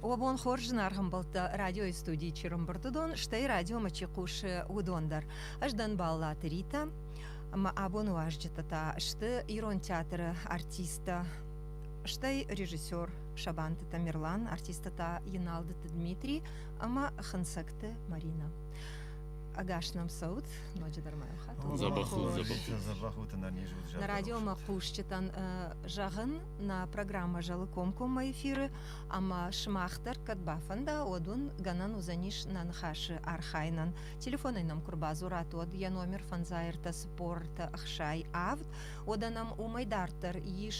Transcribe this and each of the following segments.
Уӕ бон хорз, зынаргъ ӕмбӕлттӕ! Радиойы студийы чырымбырды дон, стӕй радиомӕ чи хъусы, уыдон дӕр. Ӕз дӕн Баллаты Ритӕ, ӕмӕ абоны уазджытӕ та сты ирон театры артисттӕ, стӕй режиссер Сабанты Тамерлан, артисттӕ та Еналдыты Дмитрий ӕмӕ Хынцӕгты Марина. Ӕгас нӕм цӕут, ноджыдӕр ма йыл хатт. Дзӕбӕх у, дзӕбӕх у. Дзӕбӕх у, нӕ радиомӕ хъусджытӕн зӕгъын, Нӕ программӕ зӕлы комкоммӕ эфиры, ӕмӕ сымах дӕр кӕд бафӕнда, уӕд уын гӕнӕн уыдзӕнис нӕ ныхасы архайынӕн. Телефонӕй нӕм куы рбадзурат, уӕд йӕ номер фӕндзаертӕ цыппортӕ ӕхсай авд, уӕдӕ нӕм уымӕй дарддӕр ис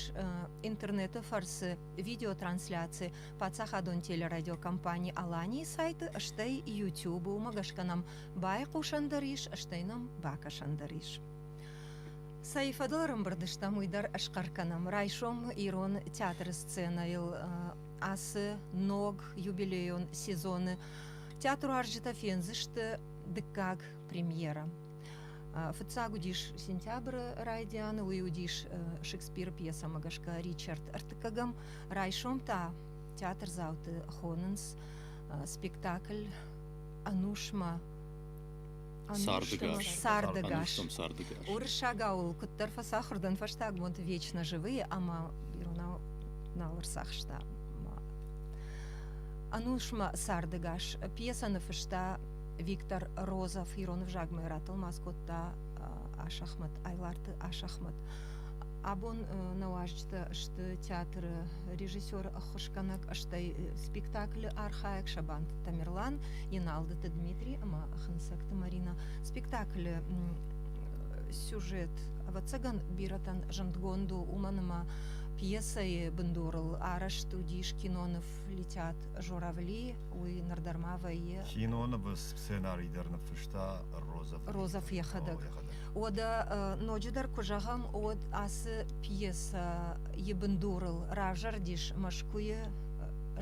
интернеты фӕрцы видеотрансляци паддзахадон телерадиокомпани Аланийы сайты, стӕй YouTube. Уымӕ гӕсгӕ нӕм байхъусӕн дӕр ис, стӕй нӕм бакӕсӕн дӕр ис. Цӕй фӕдыл ӕрӕмбырд стӕм, уый дӕр ӕсхъӕр кӕнӕм. Райсом ирон театры сценӕйыл ацы ног юбилейон сезоны театруарзджытӕ фендзысты дыккаг премьерӕ. Фыццаг уыдис сентябры райдианы, уый уыдис Шекспиры пьесӕмӕ гӕсгӕ Ричард ӕртыккӕгӕм. Райсом та театрдзауты хонынц спектакль Ӕнусмӕ Сардыгас. Сардыгас. Сардыгас. Уырыссагау ыл куыддӕр фӕцахуыр дӕн фӕстаг бонты вечно живые ӕмӕ иронау нал ӕрцахста. Ӕнусмӕ сардыгас. Пьесӕны фыста Виктор Розов. Ирон ӕвзагмӕ йӕ ратӕлмац кодта Ашахмат, Айларты Ашахмат. Абон нӕ уазджытӕ сты театры режиссер, ӕххуысгӕнӕг, стӕй спектаклы архайӕг Сабанты Тамерлан, Еналдыты Дмитрий ӕмӕ Хынцӕгты Марина. Спектаклы сюжет ӕвӕццӕгӕн бирӕтӕн зындгонд у, уымӕн ӕмӕ пьесӕйы бындурыл арӕзт уыдис киноныв летят журавли, уый нырдӕр ма вӕййы. Кинонывы сценарий дӕр ныффыста Роза. Роза йӕхӕдӕг. Уӕдӕ ноджыдӕр куы зӕгъӕм, уӕд ацы пьесӕйы бындурыл равзӕрдис Мӕскуыйы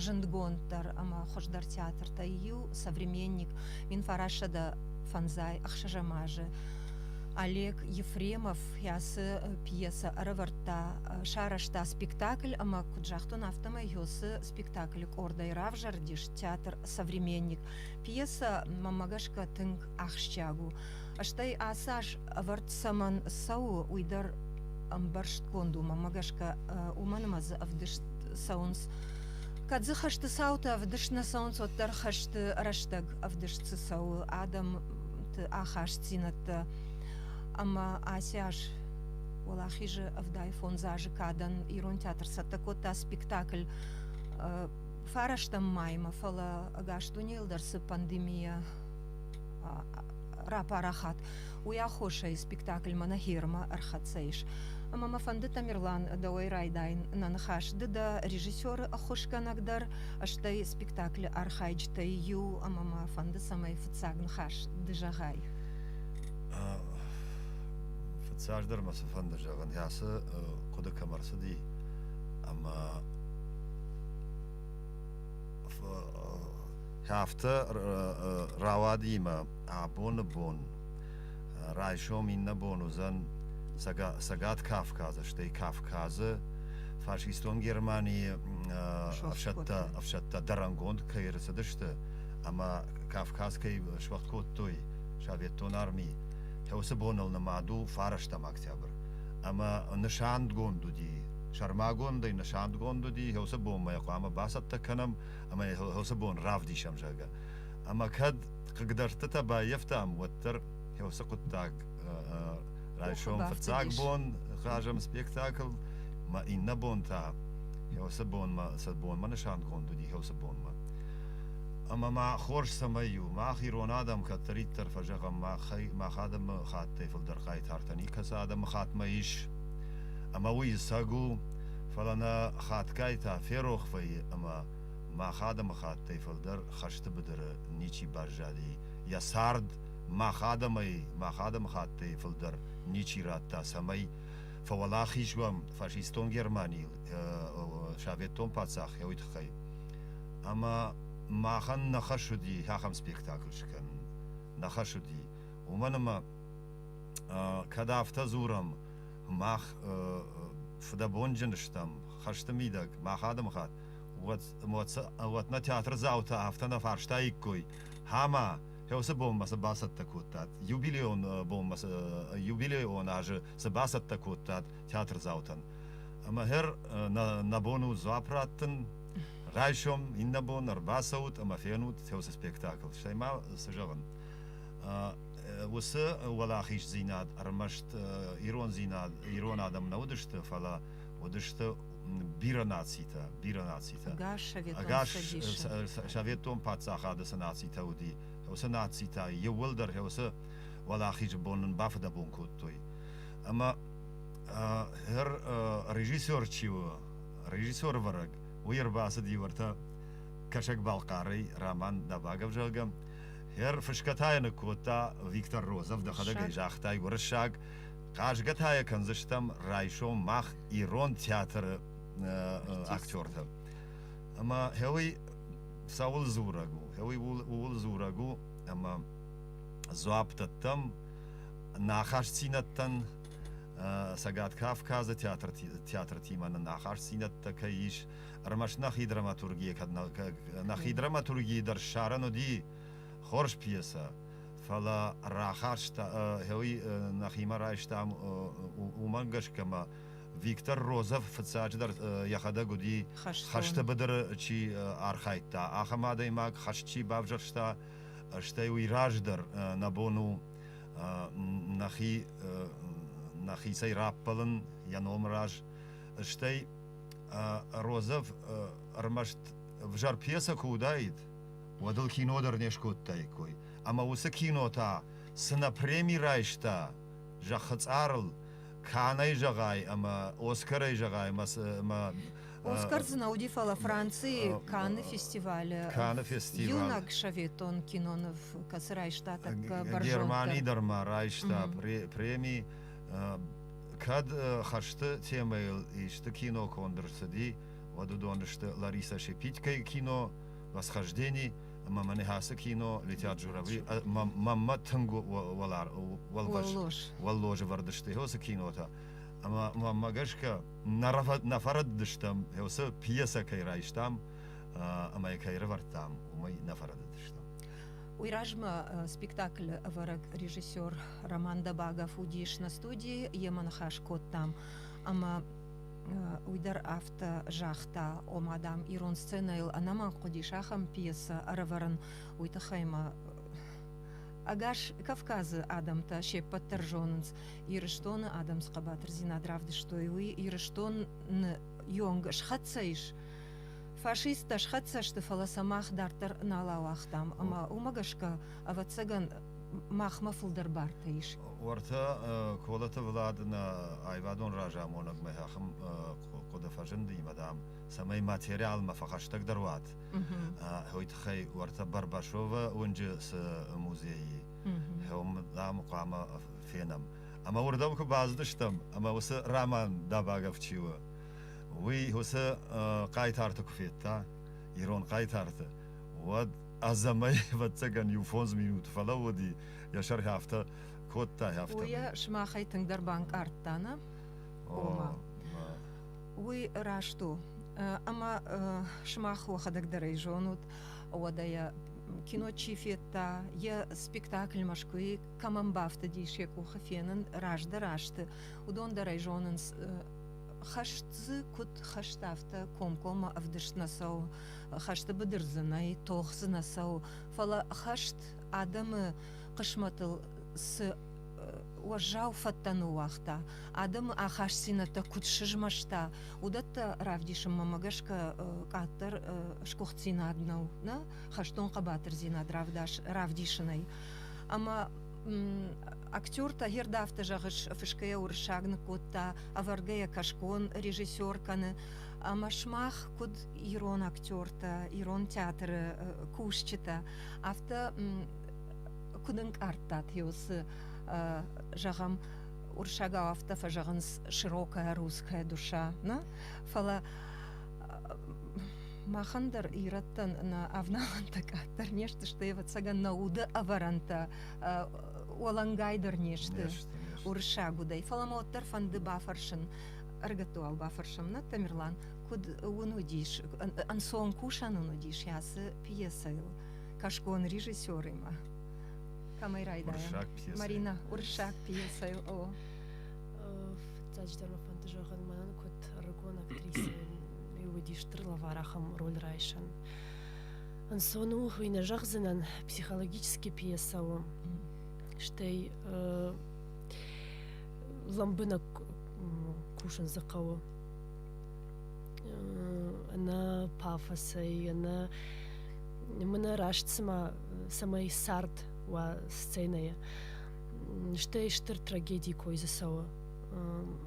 зындгонддӕр ӕмӕ хуыздӕр театртӕй иу современник Минфарасада Фанзай ӕхсӕзӕм азы Олег Ефремов ацы пьесӕ ӕрӕвӕрдта, сарӕзта спектакль ӕмӕ куыд загътон, афтӕмӕй Ёсы спектаклы къордӕй равзӕрдис театр Современник. Пьесӕ, мӕнмӕ гӕсгӕ, тынг ахсджиаг у. Стӕй ацы аз ӕвӕрд цӕмӕн цӕуы, уый дӕр ӕмбӕрстгонд у. Мӕмӕ гӕсгӕ уымӕн ӕмӕ дзы ӕвдыст цӕуынц Кӕд дзы хӕсты цауты ӕвдыст нӕ цӕуынц, уӕддӕр хӕсты рӕстӕг ӕвдыст цы цӕуы адӕмты ахастдзинӕдтӕ. Ӕмӕ ацы аз уӕлахизы ӕвдай фондз азы кадӕн ирон театр цӕттӕ кодта спектакль фарастӕм маймӕ, фӕлӕ ӕгас дунейыл дӕр цы пандемийӕ рапарахат. Уый аххосӕй спектакльмӕ нӕ хермӕ ӕрхӕццӕ ис. Ӕмӕ мӕ фӕнды, Тамерлан, дӕуӕй райдайын нӕ ныхас. Ды дӕ режиссеры ӕххуысгӕнӕг дӕр, стӕй спектаклы архайджытӕй иу, ӕмӕ мӕ фӕнды, цӕмӕй фыццаг ныхас ды зӕгъай. Фыццагдӕр мӕ цы фӕнды зӕгъын, ацы хъуыды кӕм ӕрцыди ӕмӕ Афтӕ рауад имӕ абоны бон. Райсом иннӕ бон уыдзӕн Цӕгат Кавказы, стӕй Кавказы фашистон Германийы ӕфсӕдтӕ ӕфсӕдтӕ дӕрӕнгонд кӕй ӕрцыдысты ӕмӕ Кавказ кӕй суӕгъд кодтой советтон арми. Уыцы боныл нымад у фарӕстӕм октябрь. Ӕмӕ нысангонд уыди, сӕрмагондӕй нысангонд уыди, уыцы бонмӕ хъуамӕ бацӕттӕ кӕнӕм ӕмӕ уыцы бон равдисӕм, зӕгъгӕ. Ӕмӕ кӕд хъыгдӕрдтытӕ баййӕфтам, уӕддӕр уыцы хъуыддаг райсом фыццаг бон хъазӕм спектакль, мӕ иннӕ бон та уыцы бонмӕ, цы бонмӕ нысангонд уыди, уыцы бонмӕ. Ӕмӕ ма хорз цӕмӕй у, мах ирон адӕм кӕддӕриддӕр фӕзӕгъӕм, мах адӕмы хаттӕй фылдӕр хъайтартӕ никӕцы адӕмы хаттмӕ ис, ӕмӕ уый сӕг у, фӕлӕ нӕ хатгай та ферох вӕййы ӕмӕ мах адӕмыхаттӕй фылдӕр хӕсты быдыры ничи баззади, йӕ цард мах адӕмӕй, мах адӕмыхаттӕй фылдӕр ничи радта, цӕмӕй фӕуӕлахиз уӕм фашистон Германийыл советтон паддзах йӕ уый тыххӕй. Ӕмӕ махӕн нӕ хӕс уыди ахӕм спектакль скӕнын. Нӕ хӕс уыди. Уымӕн ӕмӕ кӕд афтӕ дзурӕм, мах фыдӕбонджын стӕм хӕсты мидӕг мах адӕмыхатт уӕдмӕ театрдзаутӕ афтӕ нӕ фарстаиккой ӕмӕ уыцы бонмӕ цы бацӕттӕ кодтат юбилейон бонмӕ юбилейон азы цы бацӕттӕ кодтат театрдзаутӕн ӕмӕ хӕр нӕ бон у дзуапп раттын райсом иннӕ бон ӕрбацӕут ӕмӕ фенут уыцы спектакль стӕй ма цы зӕгъын уыцы уӕлахиздзинад ӕрмӕст ирондзинад ирон адӕм нӕ уыдысты, фӕлӕ уыдысты бирӕ нацитӕ, бирӕ нацитӕ. Ӕгас советон паддзахады цы нацитӕ уыди, уыцы нацитӕ иууылдӕр уыцы уӕлахизы бон нын бафыдӕбон кодтой. Ӕмӕ хӕр режиссер чи у, режиссервӕрӕг, уый ӕрбацыд иу ӕртӕ Кӕсӕг-Балхъарӕй, Роман Дабагов, зӕгъгӕ, Хӕрфысгӕ та йӕ ныккодта Виктор Розов, дӕхӕдӕг ӕй загътай гуырыссаг, хъазгӕ та йӕ кӕндзыстӕм райсом мах ирон театры актертӕ. Ӕмӕ гъеуый цӕуыл дзурӕг у? Гъеуый ууыл дзурӕг у, ӕмӕ дзуапп дӕттӕм нӕ ахастдзинӕдтӕн Цӕгат Кавказы театртимӕ нын ахастдзинӕдтӕ кӕй ис, ӕрмӕст нӕхи драматургийӕ кӕд нӕхи драматургийы дӕр ссарӕн уыди хорз пьесӕ фӕлӕ рахаста хеуи нӕхимӕ райстам уымӕн гӕсгӕ ӕмӕ Виктор Розов фыццаджыдӕр йӕхӕдӕг уыди хӕсты быдыры чи архайдта, ахӕм адӕймаг, хӕст чи бавзӕрста, стӕй уый раздӕр нӕ бон у нӕхи нӕхицӕй раппӕлын йӕ номы раз, стӕй Розов ӕрмӕст ӕвзӕр пьесӕ куы уыдаид, уӕд ыл кино дӕр не скодтаиккой. Ӕмӕ уыцы кино та цынӕ преми райста зӕххы цъарыл, кӕнӕй зӕгъай ӕмӕ Оскарӕй зӕгъай ӕмӕ Оскар дзы нӕ уыди, фӕлӕ Францийы Каны фестивалы Каны фестивал иунӕг советон киноныв, кӕцы райста тӕккӕ Германи дӕр ма райста преми кӕд хӕрзты темӕйыл исты кино конд ӕрцыди, уӕд уыдон сты Лариса Шепитькайы кино «Восхождение», ӕмӕ мӕнӕ ацы кино летят журавли маммӕ тынг уӕлбӕз уӕллозы вӕрдысты йосы кинотӕ ӕмӕ маммӕ гӕсгӕ нӕ фӕрӕддыстӕм йосы пьесӕ кӕй райстам ӕмӕ кӕй рывӕрдтам уымӕй нӕ фӕрӕддыстӕм Уый размӕ спектаклы ӕвӕрӕг режиссер Роман Дабагов уыдис на студии, йемӕ ныхас кодтам ӕмӕ уый дӕр афтӕ загъта, ома, дам, ирон сценӕйыл ӕнӕмӕнг хъуыдис ахӕм пьесӕ ӕрӕвӕрын, уый тыххӕй мӕ ӕгас Кавказы адӕмтӕ се ппӕт дӕр зонынц. Ирыстоны адӕм цы хъӕбатырдзинад равдыстой, уый Ирыстоны ёнг схӕццӕ ис Фашисттӕ схӕццӕ сты, фӕлӕ сӕ мах дарддӕр нал ауагътам ӕмӕ уымӕ гӕсгӕ, ӕвӕццӕгӕн, махмӕ фылдӕр бартӕ ис. Уӕртӕ Колоты Влад нӕ аивадон разамонӕгмӕ ахӕм хъуыды фӕзындимӕ, дам, цӕмӕй материалмӕ фӕхӕстӕгдӕр уат, уый тыххӕй уӕртӕ Барбашовы уынджы цы музейы хъӕуым, дам, хъуамӕ фенӕм. Ӕмӕ уырдӕм куы бацыдыстӕм, ӕмӕ уыцы роман Дабагов чи у, уый уыцы хъайтарты куы федта ирон хъайтарты уӕд ӕдзӕмӕй ӕвӕццӕгӕн иу фондз минуты фӕлӕууыди йӕ сӕргьы афтӕ кодта афтӕ уый сымахӕй тынгдӕр банкъардта нӕ уый раст у ӕмӕ сымах уӕхӕдӕгдӕрӕй зонут уӕдӕ йӕ кино чи федта йӕ спектакль мӕскуыйы кӕмӕн бафтыдис йӕ къухы фенын раздӕр азты уыдон дӕр ӕй зонынц хӕст дзы куыд хӕст, афтӕ комкоммӕ ӕвдыст нӕ цӕуы. Хӕсты быдыр дзы нӕй, тох дзы нӕ цӕуы. Фӕлӕ хӕст адӕмы хъысмӕтыл цы уӕззау фӕдтӕны уагъта, адӕмы ахастдзинӕдтӕ куыд сызмӕста, уыдӕттӕ равдисынмӕ гӕсгӕ къаддӕр сгуыхтдзинад нӕу, нӕ хӕстон хъӕбатырдзинад равдисынӕй. Ӕмӕ актер Тагер Дафты зӕгъыс, фысгӕйӕ уырыссаг ныккодта, ӕвӕргӕйӕ кӕсгон режиссер кӕны. Ӕмӕ сымах куыд ирон актертӕ, ирон театры кусджытӕ, афтӕ куыд ӕнкъардтат йыл, цы зӕгъӕм, уырыссагау афтӕ фӕзӕгъынц широкая русская душа, не? фӕлӕ Махӕн дӕр ирӕттӕн нӕ авналӕнтӕ къаддӕр не сты, стӕй, ӕвӕццӕгӕн, нӕ уды ӕвӕрӕнтӕ уӕлӕнгайдӕр не сты уырыссаг удӕй. Фӕлӕ мӕ уӕддӕр фӕнды бафӕрсын ӕргӕттуау бафӕрсӕм, нӕ Тамерлан, куыд уын уыдис, ӕнцон кусӕн уын уыдис йацы пьесӕйыл кӕсгон режиссеримӕ? Кӕмӕй райдайӕм? Марина, уырыссаг пьесӕйыл. О. Фыццаджыдӕр мӕ фӕнды зӕгъын, мӕнӕн куыд ӕрыгон актрисӕ уыди стыр лавар ахӕм роль райсӕн ӕнцон у уый нӕ зӕгъдзынӕн психологический пьеса у стӕй лӕмбынӕг кусын дзы хъӕуы ӕнӕ пафосӕй ӕнӕ мына раст цыма цӕмӕй цард уа сценӕйы стӕй стыр трагедий кой дзы цӕуы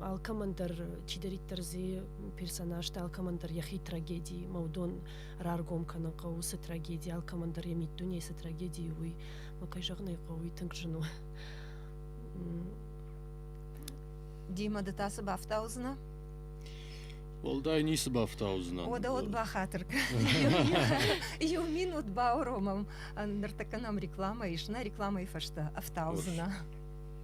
алкӕмӕн дӕр чидӕриддӕр дзы персонажтӕ алкӕмӕн дӕр йӕхи трагеди мӕудон раргом кӕнын хъӕуы цы трагеди алкӕмӕн дӕр йӕ миддунейы цы трагеди у уый мӕ кӕй зӕгъын ӕй хъӕуы уый тынг зын у Дима, ды та цы бафтаудзынӕ? Уӕлдай ницы бафтаудзынӕ. Ода от бахатыр Иу минут бауромам. Ныртӕккӕ нӕм реклама ис. Нӕ рекламайы фӕстӕ ӕфтаудзынӕ.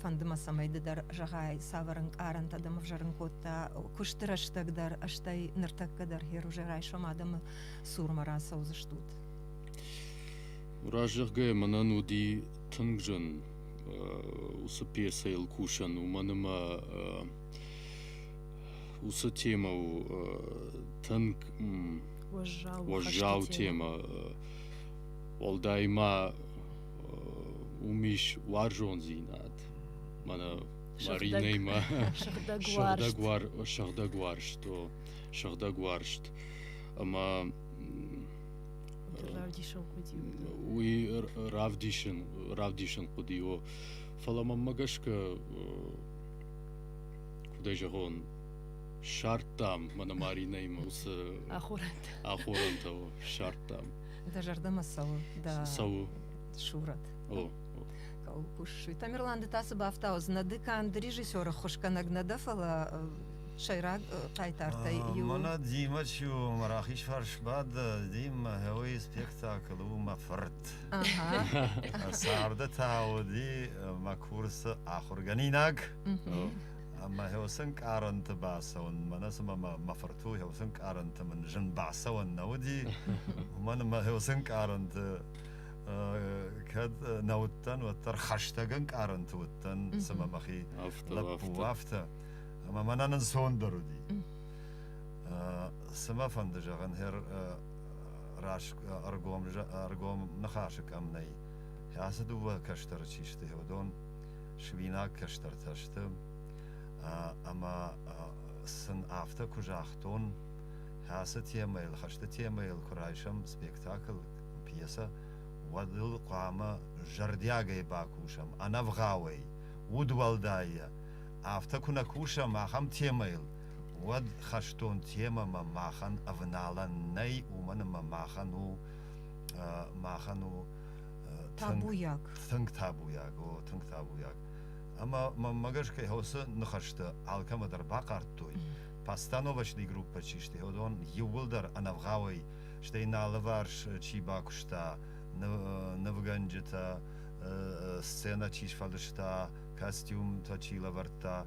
фӕнды мӕ цӕмӕй ды дӕр зӕгъай цавӕр ӕнкъарӕнтӕ дӕм ӕвзӕрын кодта куысты рӕстӕг дӕр стӕй ныртӕккӕ дӕр хер уже райсом адӕмы цурмӕ рацӕудзыстут разӕгъгӕ мӕнӕн уыди тынг зын уыцы пьесӕйыл кусын уымӕн ӕмӕ уыцы темӕ у тынг уӕззау уӕззау темӕ уӕлдай ма уым ис уарзондзинад мӕнӕ маринӕимӕ сыгъдӕг уар сыгъдӕг уарзто сыгъдӕг уарзт ӕмӕ равдисын хъуыди уый равдисын равдисын хъуыди о фӕлӕ мӕнмӕ гӕсгӕ куыдӕй зӕгъон ссардтам мӕнӕ маринӕимӕ уыцы ахорӕнтӕ ахорӕнтӕ ссардтам Дӕ зӕрдӕмӕ цӕуы? Дӕ... Цӕуы. Сурӕт. О, о. Кусы. Тамерлан, ды та цы бафтауыдз? Нӕ ды канд режиссеры хуызгӕнӕг нӕ дӕ, фӕлӕ сӕйраг хъайтартӕй иу. Мӕнӕ Дима чи у, мӕ рахизфарс бады, Дима гъеуый спектакль у мӕ фырт. Царды та уыди мӕ курсы ахуыргӕнинаг. Мӕ хосынкъарӕнты бацӕуын, мӕнӕ цымӕ мӕ фырт у, хосынкъарӕнты мын зын бацӕуӕн нӕ уыди. Уымӕн мӕ хосынкъарӕнты кӕд нӕ уыдтӕн, уӕддӕр хӕстӕг ӕнкъарӕнты уыдтӕн, цымӕ мӕхи лӕппу афтӕ. Ӕмӕ мӕнӕ нынцондӕр уыди. Цымӕ фӕнды зӕгъын, хер ӕргом ныхасы кӕм нӕй, ацы дыууӕ кӕстӕры чи сты, уыдон свинаг кӕстӕртӕ сты ӕмӕ сын афтӕ куы загътон, хӕцы темӕйыл, хӕсты темӕйыл куы райсӕм спектакль, пьесӕ, уӕд ыл хъуамӕ зӕрдиагӕй бакусӕм, ӕнӕвгъауӕй, удуӕлдайӕ. Афтӕ куы нӕ кусӕм ахӕм темӕйыл, уӕд хӕстон темӕмӕ махӕн ӕвналӕн нӕй, уымӕн ӕмӕ махӕн у махӕн у табуйаг. Тынг табуйаг, о, тынг табуйаг. Ӕмӕ мӕнмӕ гӕсгӕ уыцы ныхӕсты алкӕмӕ дӕр бахъардтой, постановочный группӕ чи сты, уыдон иууылдӕр ӕнӕвгъауӕй, стӕй нӕ алыварс чи бакуыста, нывгӕнджытӕ, сценӕ чи сфӕлыста, костюмтӕ чи лӕвӕрдта,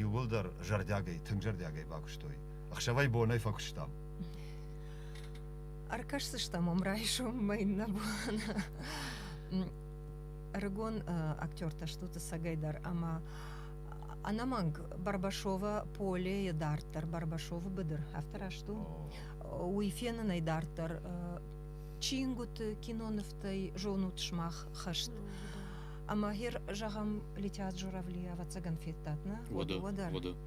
иууылдӕр зӕрдиагӕй, тынг зӕрдиагӕй бакуыстой. Ӕхсӕвӕй-бонӕй фӕкуыстам. ӕркӕсдзыстӕм ам райсоммӕ иннӕ бон ӕрыгон актертӕ стут ӕцӕгӕй дӕр ӕмӕ ӕнӕмӕнг барбашова поле дарддӕр барбашовы быдыр афтӕ раст у уый фенынӕй дарддӕр чингуыты кинонывтӕй зонут сымах хӕст ӕмӕ хер зӕгъӕм летят журавли ӕвӕццӕгӕн федтат нӕ уӕдӕ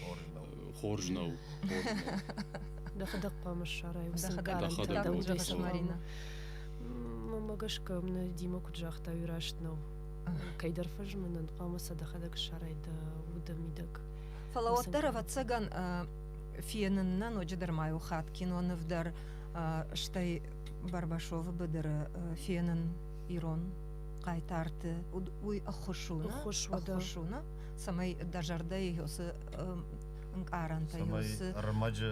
хорз нӕу хорз нӕу дӕхӕдӕг хъуамӕ ссарай дӕхӕдӕг марина мӕмӕ гӕсгӕ мӕ дима куыд загъта уый раст нӕу кӕйдӕр фӕзмынӕн хъуамӕ сӕ дӕхӕдӕг ссарай дӕ уды мидӕг фӕлӕ уӕддӕр ӕвӕццӕгӕн фенын нӕ ноджыдӕр ма иу хатт киноныв дӕр стӕй барбашовы быдыры фенын ирон хъайтарты уый ӕххуыс у ӕххуыс у цӕмӕй дӕ зӕрдӕйы уыцы ӕнкъарӕнтӕ цы рмӕджы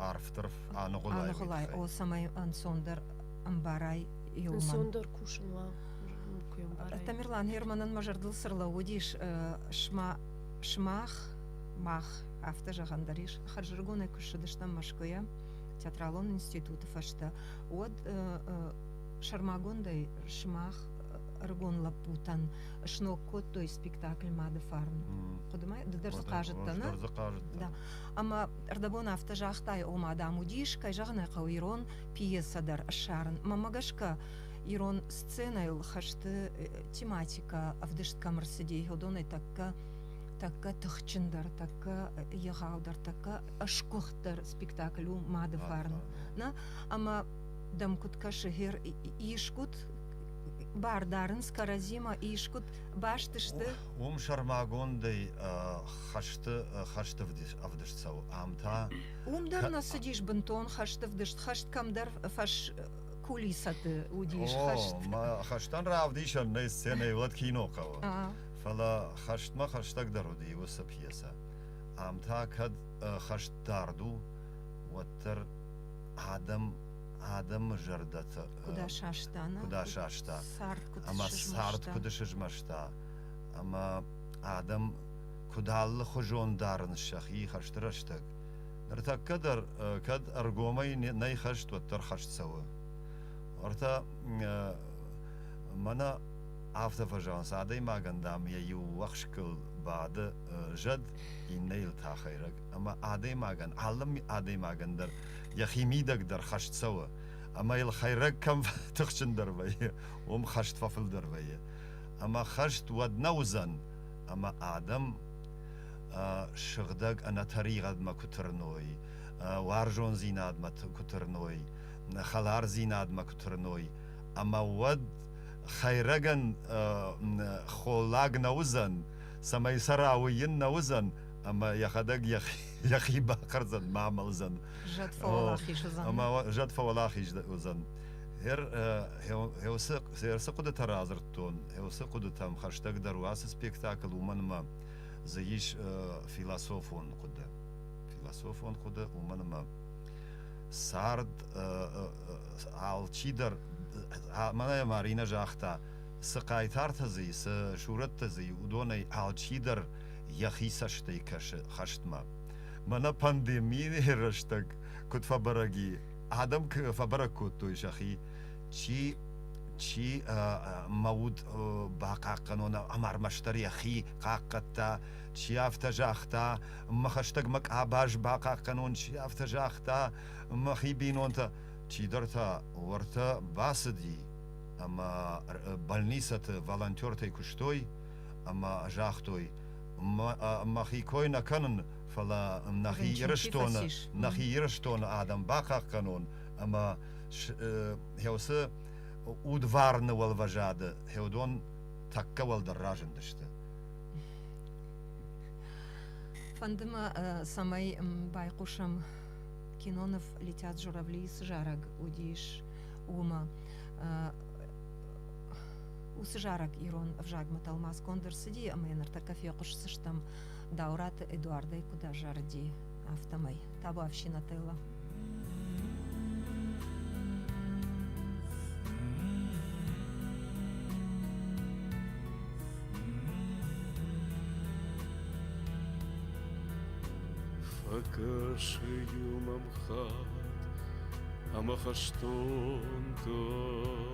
арфдӕр аныгъуылай аныгъуылай о цӕмӕй ӕнцондӕр ӕмбарай иумӕ ӕнцондӕр кусын уа куы ӕмбарай тамерлан херманӕн мӕ зӕрдыл цы рлӕууыдис сма сымах мах афтӕ зӕгъӕн дӕр ис хӕрзӕрыгонӕй куы ссыдыстӕм мӕскуыйӕ театралон институты фӕстӕ уӕд сӕрмагондӕй сымах ӕрыгон лӕппутӕн сног кодтой спектакль мады фарн хъуыдымӕ ды дӕр дзы хъазыдтӕ нӕ дзы хъазыдтӕ ӕмӕ ӕрдӕбон афтӕ загътай о мадам уыдис кӕй зӕгъын ӕй хъӕуы ирон пьесӕ дӕр ссарын мӕмӕ гӕсгӕ ирон сценӕйыл хӕсты тематикӕ ӕвдыст кӕм ӕрцыди йодонӕй тӕккӕ тӕккӕ тыхджындӕр тӕккӕ егъаудӕр тӕккӕ ӕсгуыхтдӕр спектакль у мады фарн нӕ ӕмӕ дӕм куыд кӕсы хер искут Бар дарынц кӕрӕдзимӕ искуыд баст сты? Уым сӕрмагондӕй хӕсты хӕсты ӕвдыст цӕуы. Ам та уым дӕр нӕ цыдис бынтон хӕсты вдыст. Хӕст кӕмдӕр фӕс кулисӕты уыдис хӕст. О, хӕстӕн равдисӕн нӕй сценӕйы уӕд кино хъӕуы. Фӕлӕ хӕстмӕ хӕстӕгдӕр уыди уыцы пьесӕ. Ам та кӕд хӕст дард у, уӕддӕр адӕм адӕмы зӕрдӕ куыд асаста, куыд асаста, ӕмӕ цард куыд сызмӕста, ӕмӕ адӕм куыд алыхуызон дарын сӕхи хӕсты рӕстӕг. Ныртӕккӕ дӕр кӕд ӕргомӕй нӕй хӕст, уӕддӕр хӕст цӕуы. Ортӕ мӕнӕ афтӕ фӕзӕгъынц, адӕймагӕн, дам, йӕ иу уӕхскыл бады зӕд, иннӕйыл та хӕйрӕг. ӕмӕ адӕймагӕн, алы адӕймагӕн дӕр йӕхи мидӕг дӕр хӕст цӕуы, ӕмӕ йыл хӕйрӕг кӕм тыхджындӕр вӕййы, уым хӕст фӕфылдӕр вӕййы. Ӕмӕ хӕст уӕд нӕ уыдзӕн, ӕмӕ адӕм сыгъдӕг ӕнӕтӕригъӕдмӕ куы тырной, уарзондзинадмӕ куы тырной, хӕлардзинадмӕ куы тырной, ӕмӕ уӕд хӕйрӕгӕн холлаг нӕ уыдзӕн, цӕмӕй сӕ рауыйын нӕ уыдзӕн, ӕмӕ йӕхӕдӕг йӕхи бахӕрдзӕн ма амӕлдзӕн зӕд фӕуӕлахиз уыдзӕн ӕмӕ зӕд фӕуӕлахиз уыдзӕн ӕрцы хъуыдытӕ радзырдтон ӕрцы хъуыдытӕм хӕстӕгдӕр у ацы спектакль уымӕн ӕмӕ дзы ис философон хъуыды философон хъуыды уымӕн ӕмӕ цард алчидӕр мӕнӕ марина загъта цы хъайтартӕ дзы цы сурӕттӕ дзы уыдонӕй алчидӕр йӕхи цӕстӕй кӕсы хӕстмӕ. Мӕнӕ пандемийы рӕстӕг куыд фӕбӕрӕг и, адӕм фӕбӕрӕг кодтой сӕхи, чи чи мӕ уд бахъахъхъӕнон ӕмӕ ӕрмӕстдӕр йӕхи хъахъхъӕдта, чи афтӕ загъта, мӕ хӕстӕгмӕ къабаз бахъахъхъӕнон, чи афтӕ загъта, мӕхи бинонтӕ, чидӕр та уӕртӕ бацыди ӕмӕ больницӕты волонтертӕй куыстой, ӕмӕ загътой мӕхи кой нӕ кӕнын, фӕлӕ нӕхи Ирыстоны, нӕхи Ирыстоны адӕм бахъахъхъӕнон ӕмӕ хӕусы удварны уӕлвӕзады хӕдон тӕккӕ уӕлдӕр разындысты. Фӕнды мӕ, цӕмӕй байхъусӕм киноныв «Летят журавли» цы зарӕг уыдис, уымӕ. Уыцы зарӕг ирон ӕвзагмӕ тӕлмацгонд ӕрцыди ӕмӕ ныртӕккӕ фехъуысдзыстӕм Дауыраты Эдуардӕй куыд азарыди, афтӕмӕй. Табу ӕфсинотелло! Фӕкӕсы юмам хат ӕмӕ хӕстон тох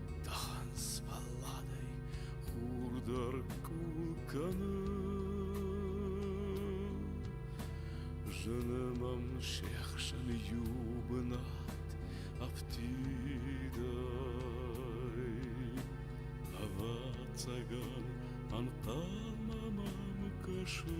Танц балладӕй хур дӕр къул кӕны. Зыны мӕм се хсӕн иу бынат афтидӕй. Ӕвӕццӕгӕн ӕнхъӕлмӕ мӕм кӕсы.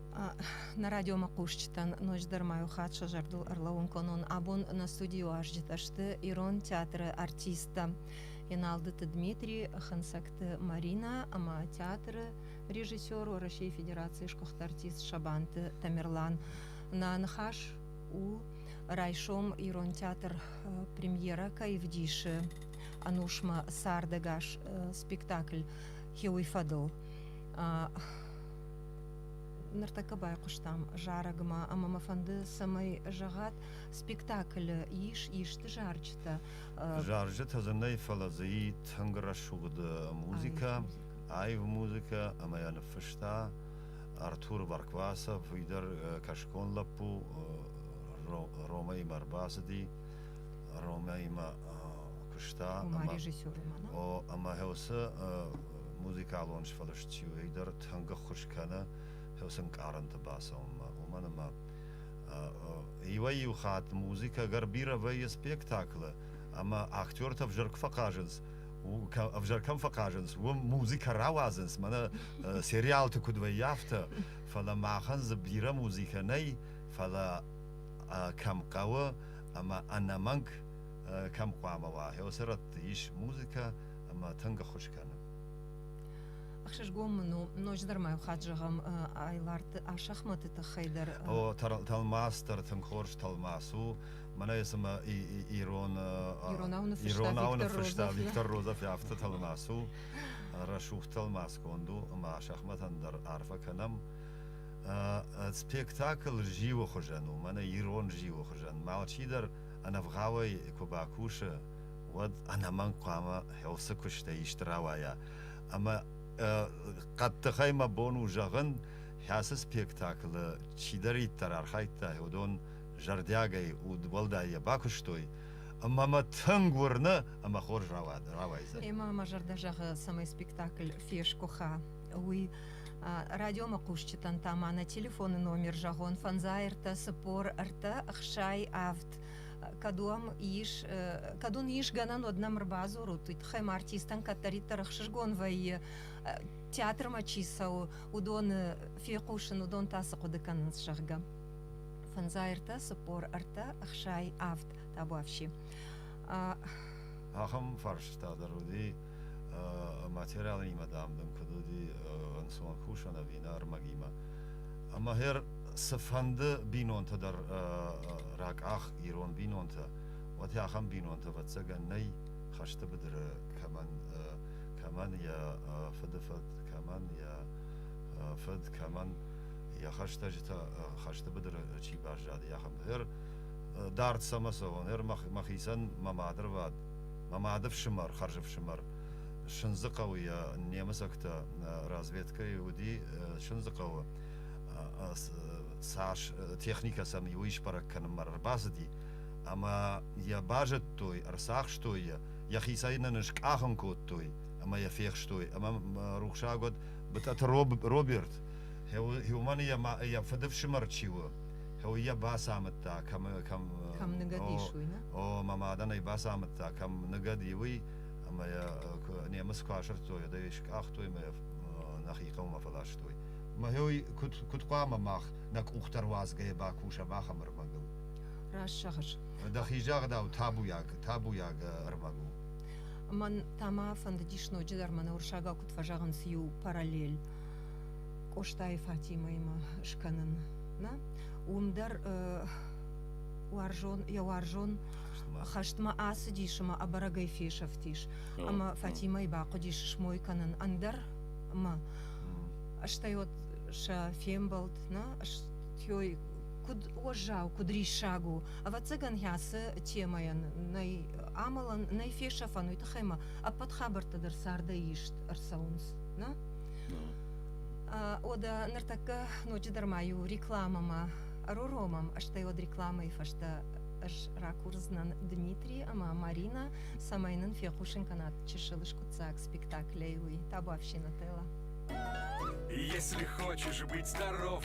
Нӕ радиомӕхъусджытӕн ноджыдӕр ма иу хатт сӕ зӕрдыл ӕрлӕууын кӕнон. Абон нӕ студийы уазджытӕ сты ирон театры артисттӕ Еналдыты Дмитрий, Хынцӕгты Марина ӕмӕ театры режиссер, Уӕрӕсейы Федерацийы сгуыхт артист Сабанты Тамерлан. Нӕ ныхас у райсом ирон театр премьерӕ кӕй вдисы Анушмӕ цардӕгас спектакль «Хиуый фӕдыл». ныртӕккӕ байхъуыстам зарӕгмӕ ӕмӕ мӕ фӕнды цӕмӕй зӕгъат спектаклы ис исты зарджытӕ зарджытӕ дзы нӕй фӕлӕ дзы и тынг рӕсугъд музыкӕ аив музыкӕ ӕмӕ йӕ ныффыста артур варквасов уый дӕр кӕсгон лӕппу ромӕимӕ ӕрбацыди ромӕимӕ куыста ӕмӕ ӕмӕ уыцы музыкалон сфӕлыст чи у уый дӕр тӕнгӕххуыс кӕны ӕнкъарӕнты бацӕуынмӕ. Уымӕн ӕмӕ иуӕй-иу хатт музыкӕ Горбиров вӕййы спектаклы, ӕмӕ актертӕ ӕвзӕр куы фӕхъазынц, ӕвзӕр кӕм фӕхъазынц, уым музыкӕ рауадзынц, мӕнӕ сериалты куыд вӕййы, афтӕ. Фӕлӕ махӕн дзы бирӕ музыкӕ нӕй, фӕлӕ кӕм хъӕуы ӕмӕ ӕнӕмӕнг кӕм хъуамӕ уа, уыцы рӕтты ис музыкӕ ӕмӕ тынг ӕххуыс кӕны. Ӕхсызгон мын у, ноджыдӕр ма иу хатт зӕгъӕм Айларты Асӕхмӕты тыххӕй дӕр. О, тӕлмац дӕр тынг хорз тӕлмац у. Мӕнӕ цымӕ ирон иронау ныффыста Виктор Розов афтӕ тӕлмац у, рӕсугъд тӕлмац конд у ӕмӕ Асӕхмӕтӕн дӕр арфӕ кӕнӕм. Спектакль зиуы хуызӕн у, мӕнӕ ирон зиуы хуызӕн. Малчидӕр ӕнӕвгъауӕй куы бакусы, уӕд ӕнӕмӕнг хъуамӕ хӕлцы куыстӕй исты рауайа. ӕмӕ хъӕддыхӕй мӕ бон у зӕгъын, ацы спектаклы чидӕриддӕр архайдта, уыдон зӕрдиагӕй уӕлдай йӕ бакуыстой, ӕмӕ мӕ тынг уырны ӕмӕ хорз рауайдзӕн. Ӕмӕ мӕ зӕрдӕ зӕгъы, цӕмӕй спектакль фесгуыха, уый. Радиомӕ хъусджытӕн та ма нӕ телефоны номер зӕгъон, фӕндзай ӕртӕ цыппор ӕртӕ ӕхсай авд. кӕд уӕм ис, кӕд уын ис гӕнӕн уӕд нӕм ӕрбадзурут, уый тыххӕй ма артистӕн кӕддӕриддӕр ӕхсызгон вӕййы, театрмӕ чи цӕуы, уыдоны фехъусын, уыдон та цы хъуыды кӕнынц, зӕгъгӕ. Фӕндзай ӕртӕ, цыппор ӕртӕ, ӕхсай, авд, табуафси. Ахӕм фарстытӕ дӕр уыди материалонимӕ, дам, дын куыд уыди ӕнцон кусын ӕви нӕ ӕрмӕгимӕ. Ӕмӕ гъер цыфӕнды бинонты дӕр ракъах ирон бинонтӕ, уӕд ахӕм бинонтӕ ӕвӕццӕгӕн нӕй хӕсты быдыры кӕмӕн кӕмӕн йӕ фыдыфыд, кӕмӕн йӕ фыд, кӕмӕн йӕ хӕстӕджытӕ хӕсты быдыры чи баззади, ахӕм. Гъер дард цӕмӕ цӕуон, гъер мӕхицӕн мӕ мадырвад Мӕ мады фсымӕр, хӕрзыфсымӕр Сындзыхъӕуы йӕ немыцӕгтӕ разведкӕйы уыди Сындзыхъӕуы цас техникӕ сӕм иу исбӕрӕг кӕнынмӕ ӕрбацыди ӕмӕ йӕ базыдтой, ӕрцахстой йӕ, йӕхицӕй нын скъахын кодтой ӕмӕ йӕ фехстой. Ӕмӕ рухсаг уӕд Бытъӕты Роберт, уымӕн йӕ фыдыфсымӕр чи у, Уый йӕ бацамыдта, кӕм кӕм кӕм ныгӕд ис, уый нӕ? О, мӕ мадӕн ӕй бацамыдта, кӕм ныгӕд и, уый, ӕмӕ йӕ немыц куы асырдтой, ӕдӕй скъахтой мӕ нӕхи хъӕумӕ фӕластой. Мӕ уый куыд, куыд хъуамӕ мах нӕ къухтӕ руадзгӕйӕ бакусӕм ахӕм ӕрмӕгыл? Раст зӕгъыс. Дӕхи загъдау, табуйаг, табуйаг ӕрмӕг у. Мӕн та мӕ фӕндыдис ноджыдӕр мӕнӕ уырыссагау куыд фӕзӕгъынц иу параллель. Къостайы Фатимӕимӕ скӕнын. Нӕ? Уым дӕр уарзон, йӕ уарзон хӕстмӕ ацыдис ӕмӕ ӕбӕрӕгӕй фесӕфтис. Ӕмӕ Фатимӕйы бахъуыдис смой кӕнын ӕндӕр мӕ. Стӕй вот сӕ фембӕлд, нӕ? Той куыд уӕззау, куыд риссаг у. Ӕвӕццӕгӕн хӕцы темӕйӕн нӕй амӕлӕн, нӕй фесӕфӕн, уый тыххӕй мӕ ӕппӕт хабӕрттӕ дӕр цардӕй ист ӕрцӕуынц, нӕ? Ода ныртӕккӕ ноджыдӕр ма иу рекламӕмӕ ӕруромӕм, стӕй уӕд рекламӕйы фӕстӕ ӕз ракурдзынӕн Дмитрий ӕмӕ Марина, цӕмӕй нын фехъусын кӕнат чысыл скъуыддзаг спектаклей уый. Табуафщина, Тела. Если хочешь быть здоров,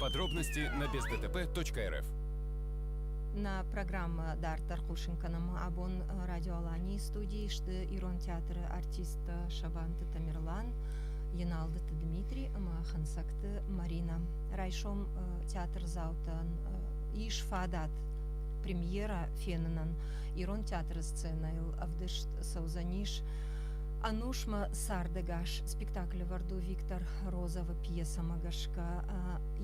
Подробности на бездтп.рф Нӕ программӕ дарддӕр хъусын кӕнӕм абон Радио Аланийы студийы сты ирон театры артисттӕ Сабанты Тамерлан, Еналдыты Дмитрий ӕмӕ Хынцӕгты Марина. Райсом театрдзаутӕн ис фадат премьера фенынӕн. Ирон театры сценӕйыл ӕвдыст цӕудзӕнис Анушмӕ цардӕгас спектакль Варду Виктор Розова пьесӕмӕ гӕсгӕ.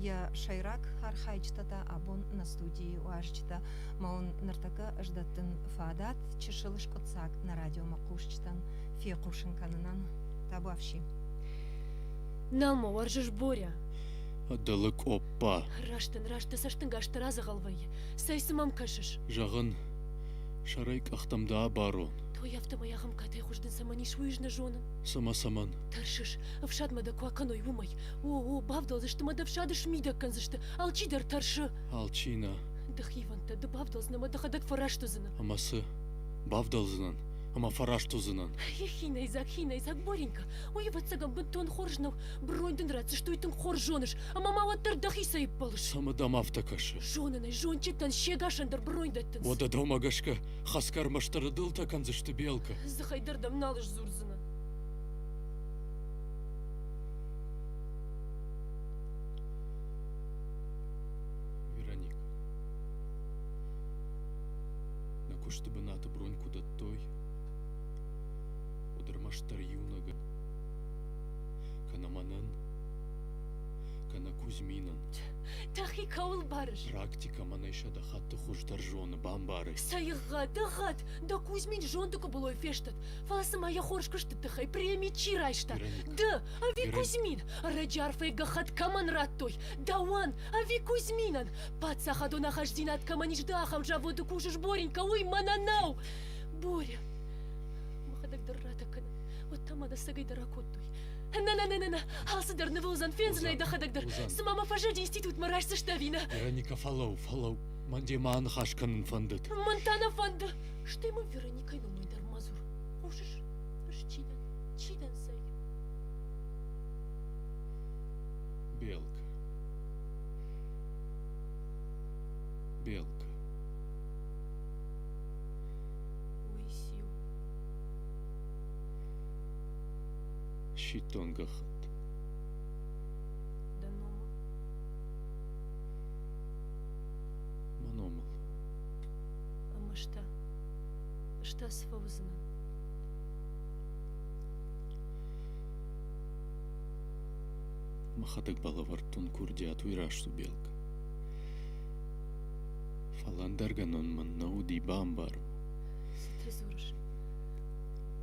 йӕ сӕйраг архайджытӕ та абон нӕ студийы уазджытӕ ма уын ныртӕккӕ ӕз дӕттын фадат чысыл скъуыддзаг нӕ радиомӕ хъусджытӕн фехъусын кӕнынӕн табуафси нӕма уарзыс боря дӕлы къоппа раст ын раст дӕ цӕстынгасты радзӕгъӕл вӕййы цӕй цы мӕм кӕсыс зӕгъын сӕрӕй къӕхтӕм дӕ абарон той афтӕмӕй ахӕм катайы хуыздын цӕмӕн ис уый ӕз нӕ зонын цымӕ цӕмӕн тӕрсыс ӕфсадмӕ дӕ куы акӕной уымӕй О, о, бавдӕлдзысты мӕ ӕфсады смидӕг кӕндзысты. Алчи дӕр тӕрсы. Алчи нӕ. Дӕхивӕндтӕ, ды бавдӕлдзынӕ мӕ дӕхӕдӕг фӕраст уыдзынӕ. Ӕмӕ цы? Бавдӕлдзынӕн, ӕмӕ фӕраст уыдзынӕн. Хинӕйдзаг, хинӕйдзаг, Боринка, уый, ӕвӕццӕгӕн, бынтон хорз нӕу. Бронь дын ратдзысты, уый тынг хорз зоныс, ӕмӕ ма уӕддӕр дӕхицӕй ӕппӕлыс. Цӕмӕ дӕм афтӕ кӕсы? Зонын ӕй, зонджытӕн се гасӕн дӕр бронь дӕттынц. Уӕдӕ дӕумӕ гӕсгӕ хӕсгӕ ӕрмӕстдӕр дылтӕ кӕндзысты Белкӕ? Дзыхӕй дӕр дӕм нал сдзурдзынӕн. вероника нӕ куысты бынаты бронь куы дӕттой уӕд ӕрмӕстдӕр иунӕгӕн кӕнӕ мӕнӕн кӕнӕ кузьминӕн Дӕхи кӕуыл барыс? практикӕ мӕнӕй сӕдӕ хатты хуыздӕр зоны бамбарай Сӕйгъӕд, ӕгъгъӕд, дӕ Кузьмин зонды къуыбылой фестӕд. Фӕлӕ цымӕ йӕ хорз куысты тыххӕй преми чи райста? Ды, ӕви Кузьмин? Ӕрӕджы арфӕйы гӕххӕтт кӕмӕн радтой? Дауан, ӕви Кузьминӕн? Паддзахадон ахастдзинад кӕмӕн ис ды ахӕм заводы кусыс, Боренька, уый мӕнӕ нӕу! Боря! Мӕхӕдӕг дӕр ратӕ кӕнын. Уӕд та мӕнӕ сӕгӕй дӕр акодтой. Нӕ, нӕ, нӕ, нӕ, нӕ, алцыдӕр нывыл уыдзӕн, фендзынӕй дӕхӕдӕг дӕр. Цыма мӕ фӕзылди институтмӕ райсдзыстӕ ӕви нӕ? Вероника, фӕлӕу, фӕлӕу. Мӕн де мӕ аныхас кӕнын фӕндыд. Мӕн та нӕ фӕнды. Стӕй мын Вероника Кӕй дӕн уый дӕр мадзур. Хъусыс? Фыс чи дӕн? Чи дӕн зӕй? Белка. Белка. Уисиу. Щитонгахат. Данома. Маномал. Амашта. Что с фаузна? Махатӕг балӕвӕрдтон курдиатуй рӕсту белг. Фал ӕндӕргӕнон мӕн нӕ уди бамбару. Цы трезорыш?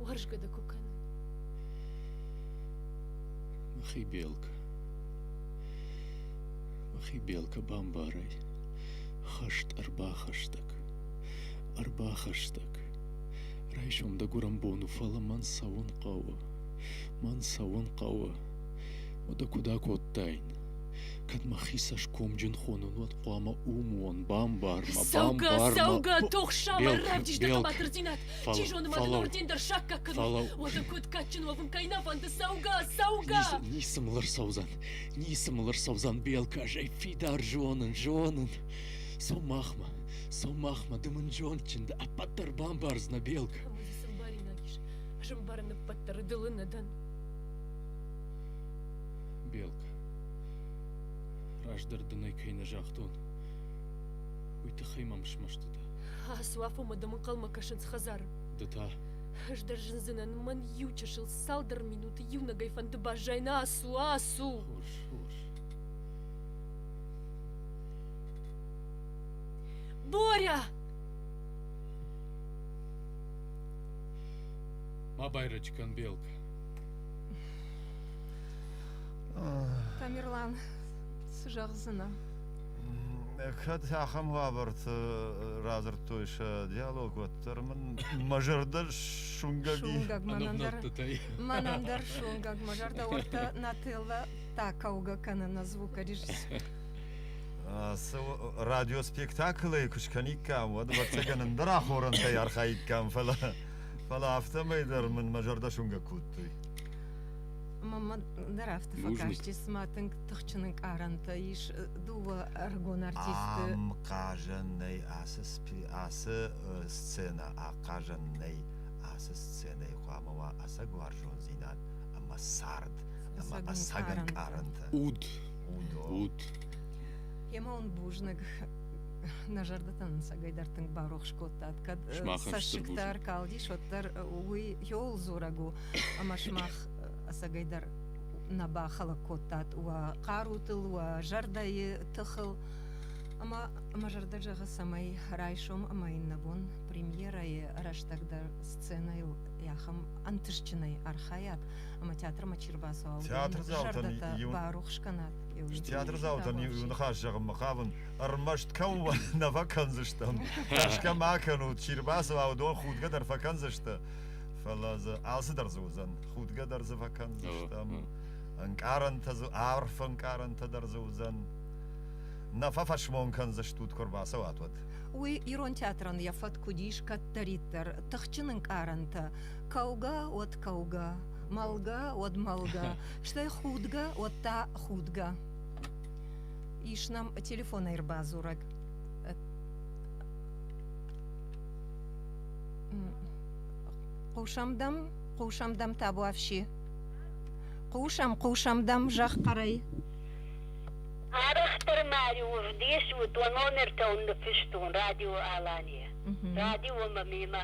Уарзгӕ дӕ куы кӕны. Махи белг. Махи белка бамбарай. Хӕст ӕрбахӕстӕг. Ӕрбахӕстӕг. Райсом дӕ гуырӕнбон у, фӕлӕ мӕн цӕуын хъӕуы. Мӕн цӕуын хъӕуы. Уӕдӕ куыд акодтаин? Кӕд мӕхи цӕсгомджын хонон, уӕд хъуамӕ ум уон, бамбар мӕ, бамбар мӕ. Цӕугӕ, цӕугӕ, тухсамӕ рӕдис дӕ хъӕбатырдзинад. Чи зоны мӕ дын орден дӕр саккаг кӕнон. Уӕдын куыд кадджын уӕвын кӕй нӕ фӕнды. Цӕугӕ, цӕугӕ! Ницы мыл ӕрцӕудзӕн, ницы мыл ӕрцӕудзӕн, Белка, ӕй фидар зонын, зонын. Цу махмӕ, Сӕумахмӕ дымын зондджын дӕ, ӕппӕт дӕр бамбардзынӕ, Белка. Ой, сӕмбӕринаг ис. Сӕмбарын ӕппӕт дӕр дылы нӕ дӕн. Белка, раздӕр дын ӕй кӕй нӕ загътон, уый тыххӕй мӕм смӕсты дӕ. Асуафомӕ дымынхъӕлмӕ кӕсынц хӕдзары. Ды та? Ӕз дӕр зындзынӕн, мӕн иу чысыл цалдӕр минуты иунӕгӕй фӕнды баззайна. Ацу, ацу! Хорз, хорз. Боря! Ма байрачи кӕн белка. Тамерлан, цы зӕгъдзынӕ? Кӕд ахӕм уавӕрты радзырдтой сӕ диалог, уӕддӕр мын мӕ зӕрдӕ суынгӕг и. Суынгӕг мӕнӕн дӕр, мӕнӕн дӕр суынгӕг, мӕ зӕрдӕ уӕдта Нателлӕ та кӕугӕ кӕны на звукорежиссер. радиоспектаклӕй куы скӕниккам, уӕд ӕвӕццӕгӕн ӕндӕр ахорӕнтӕй архайиккам, фӕлӕ фӕлӕ афтӕмӕй дӕр мын мӕ зӕрдӕ суынгӕ кодтой. Мамма дӕр афтӕ фӕкастис, цыма тынг тыхджын ӕнкъарӕнтӕ ис дыууӕ ӕрыгон артистты. Ам хъазӕн нӕй ацы ацы сценӕ, ахъазӕн нӕй ацы сценӕйы хъуамӕ уа ӕцӕг уарзондзинад ӕмӕ цард ӕмӕ ӕцӕг ӕнкъарӕнтӕ. Уд ут. Ема он бузныг нӕ зӕрдӕтӕн ӕнцӕгӕйдӕр тынг барухс кодтат. Кӕд цӕссыгтӕ калдис, уӕддӕр уый ёл дзорӕг у, ӕмӕ сымах ӕцӕгӕйдӕр нӕ бахӕлӕг кодтат уӕ хъарутыл, уӕ зӕрдӕйы тыхыл. Ӕмӕ мӕ зӕрдӕ зӕгъы, цӕмӕй райсом ӕмӕ иннӕбон премьерӕйы рӕстӕг дӕр сценӕйыл ахӕм ӕнтыстджынӕй архайат, ӕма театрмӕ чи рбацӕуа, уыдон барухс кӕнат. Театрдзаутӕн иу ныхас зӕгъынмӕ хъавын, ӕрмӕст кӕуыл нӕ фӕкӕндзыстӕм. Тӕрсгӕ ма кӕнут, чи рбацӕуа, уыдон худгӕ дӕр фӕкӕндзысты. Фӕлӕ дзы алцыдӕр дзы уыдзӕн. Худгӕ дӕр дзы фӕкӕндзыстӕм. Ӕнкъарӕнтӕ дзы, арф ӕнкъарӕнтӕ дӕр дзы уыдзӕн. Нӕ фӕфӕсмон кӕндзыстут, куы рбацӕуат, уӕд. Уый ирон театрӕн йӕ фӕтк уыдис кӕддӕриддӕр, тыхджын ӕнкъарӕнтӕ Кӕугӕ уӕд кӕугӕ, мӕлгӕ уӕд мӕлгӕ, стӕй худгӕ уӕд та худгӕ. Ис нам телефонӕй ӕрбадзурӕг. Хъусӕм дӕм, хъусӕм дӕм табуафси. Хъусӕм, хъусӕм дӕм зӕгъ хъӕрӕй. Арӕхдӕр ма равдис уыд, уӕ номертӕ уын ныффыстон Радио Алания. Радио ӕмӕ мемӕ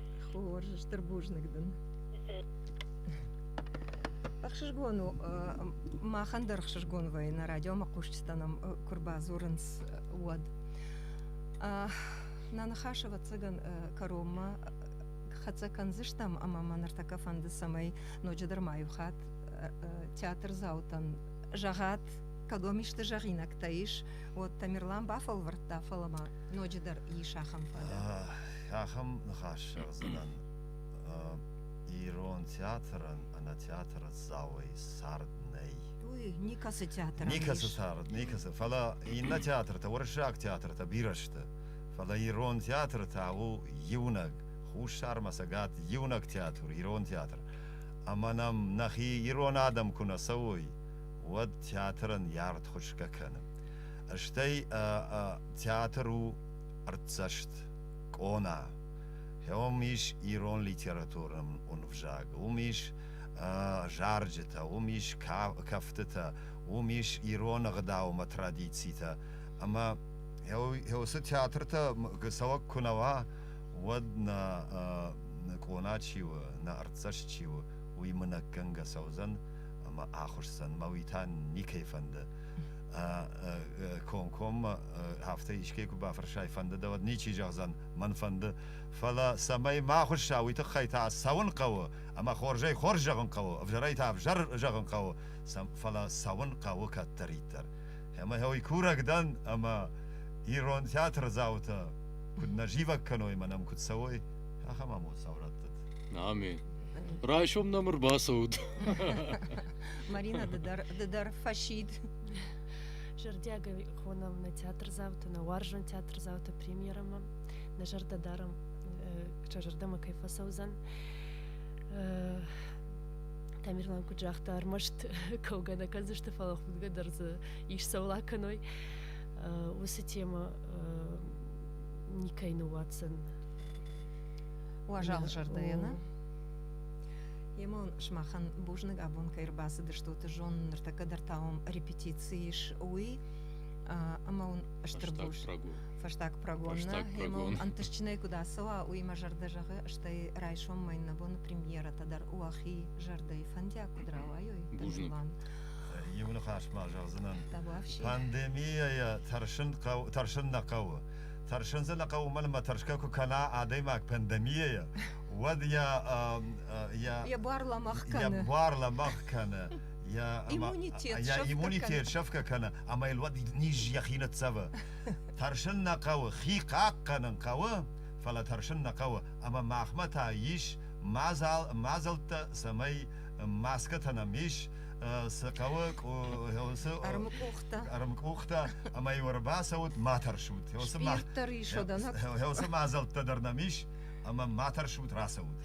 Хорз, стыр бузныг дын. Ӕхсызгон у, махӕн дӕр ӕхсызгон вӕййы нӕ радиомӕ хъусджытӕ нӕм куы рбадзурынц, уӕд. Нана ныхас ӕвӕццӕгӕн кӕронмӕ хӕццӕ кӕндзыстӕм ӕмӕ мӕ ныртӕккӕ фӕнды, цӕмӕй ноджыдӕр ма иу хатт театрдзаутӕн зӕгъӕт, кӕдом исты зӕгъинӕгтӕ ис, уӕд Тамерлан бафӕлвӕрдта, фӕлӕ ма ноджыдӕр ис ахӕм фӕдыл. Ахӕм ныхас зӕгъдзынӕн ирон театрӕн ӕнӕ театры Дзауӕй цард нӕй. Уый никӕцы театр. Никӕцы цард, никӕцы. Фӕлӕ иннӕ театртӕ, уырыссаг театртӕ бирӕ сты. Фӕлӕ ирон театр та у иунӕг, хуссармӕ цӕгат иунӕг театр, ирон театр. Ӕмӕ нӕм нӕхи ирон адӕм куы нӕ цӕуой, уӕд театрӕн йӕ артхуысгӕ кӕны. Стӕй театр у ӕрдзӕст къона. Уым ис ирон литературы ӕвзаг, уым ис зарджытӕ, уым ис кӕфтытӕ, уым ис ирон ӕгъдаумӕ традицитӕ. Ӕмӕ уыцы театртӕ цӕуӕг куы нӕ уа, уӕд нӕ къона чи у, нӕ артдзӕст чи у, уый мынӕггӕнгӕ цӕудзӕн ӕмӕ ахуысдзӕн. Мӕ уый та никӕй фӕнды. Комкоммӕ афтӕ искӕй куы бафӕрсай, фӕнды дӕ, уӕд ничи зӕгъдзӕн, мӕн фӕнды. Фӕлӕ, цӕмӕй ма хуысса, уый тыххӕй та цӕуын хъӕуы, ӕмӕ хорзӕй хорз зӕгъын хъӕуы, ӕвзӕрӕй та ӕвзӕр зӕгъын хъӕуы, фӕлӕ цӕуын хъӕуы кӕддӕриддӕр. Ӕмӕ уый курӕг дӕн, ӕмӕ ирон театрдзаутӕ куыд нӕ зивӕг кӕной мӕ нӕм куыд цӕуой, ахӕм амонддзау рӕттыд. Амин. Райсом нӕм ӕрбацӕут. Марина, ды дӕр, ды дӕр фӕсид. Зӕрдиагӕй хонӕуы нӕ театрдзауты, нӕ уарзон театрдзауты премьерӕмӕ, нӕ зӕрдӕдарӕн сӕ зӕрдӕмӕ кӕй фӕцӕудзӕн. Тамерлан куыд загъта, ӕрмӕст кӕугӕ нӕ кӕндзысты, фӕлӕ худгӕ дӕр дзы ис цӕула кӕной. Уыцы темӕ никӕй ныууадздзӕн. Уазал зӕрдӕйӕ, нӕ? Емӕ уын сымахӕн бузныг абон кӕй ӕрбацыдыстут. Зон ныртӕккӕ дӕр та уым репетици ис уый ӕмӕ уын стыр буз фӕстаг прогонны ӕмӕ уын ӕнтыстджынӕй куыд ацӕуа уый мӕ зӕрдӕ зӕгъы стӕй райсом мӕн нӕ боны премьерӕтӕ дӕр уӕхи зӕрдӕйы фӕндиаг куыд рауайой бузныг иу ныхас ма зӕгъдзынӕн пандемийӕ тӕрсын хъӕуы тӕрсын нӕ хъӕуы тӕрсын дзы нӕ хъӕуы уымӕн ӕмӕ тӕрсгӕ куы кӕна адӕймаг пандемийӕйӕ уӕд йӕ йӕ йӕ бар лӕмӕгъ кӕны йӕ бар лӕмӕгъ кӕны йӕ иммунитет йӕ иммунитет сӕфгӕ кӕны ӕмӕ йыл уӕд низ йӕхи ныццӕвы тӕрсын нӕ хъӕуы хи хъахъхъӕнын хъӕуы фӕлӕ тӕрсын нӕ хъӕуы ӕмӕ махмӕ та ис мадзал мадзӕлттӕ цӕмӕй маскӕтӕ нӕм ис цы хъӕуы цы ӕрмкъухтӕ ӕрмкъухтӕ ӕмӕ иу ӕрбацӕут ма тӕрсут уыцы спирт дӕр ис уыдон уыцы мадзӕлттӕ дӕр нӕм ис ӕмӕ ма тӕрсут рацӕут.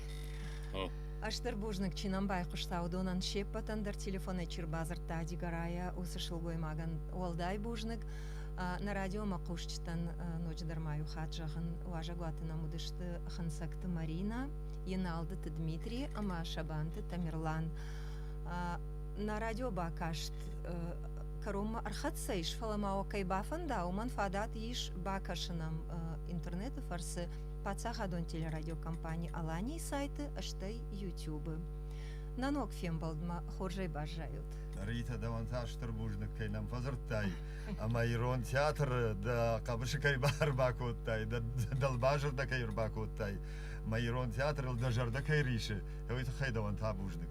Астыр бузныг чи нӕм байхъуыста, уыдонӕн се ппӕтӕн дӕр телефонӕй чи рбадзырдта Дигорайӕ уыцы сылгоймагӕн уӕлдай бузныг. Нӕ радиомӕ хъусджытӕн ноджыдӕр ма иу хатт зӕгъын, уазӕгуаты нӕм уыдысты Хынцӕгты Марина, Еналдыты Дмитрий ӕмӕ Сабанты Тамерлан. Нӕ радио бакаст кӕронмӕ ӕрхӕццӕ ис, фӕлӕ ма уӕ кӕй бафӕнда, уымӕн фадат ис бакӕсын ӕм интернеты фӕрцы паддзахадон телерадиокомпани аланийы сайты стӕй ютубы нӕ ног фембӕлдмӕ хорзӕй баззайут рита дӕуӕн та стыр бузныг кӕй нӕм фӕдзырдтай ӕмӕ ирон театры дӕ хъӕбысы кӕй ӕрбакодтай дӕ дӕлбазыр дӕ кӕй ӕрбакодтай мӕ ирон театрыл дӕ зӕрдӕ кӕй рисы уый тыххӕй дӕуӕн та бузныг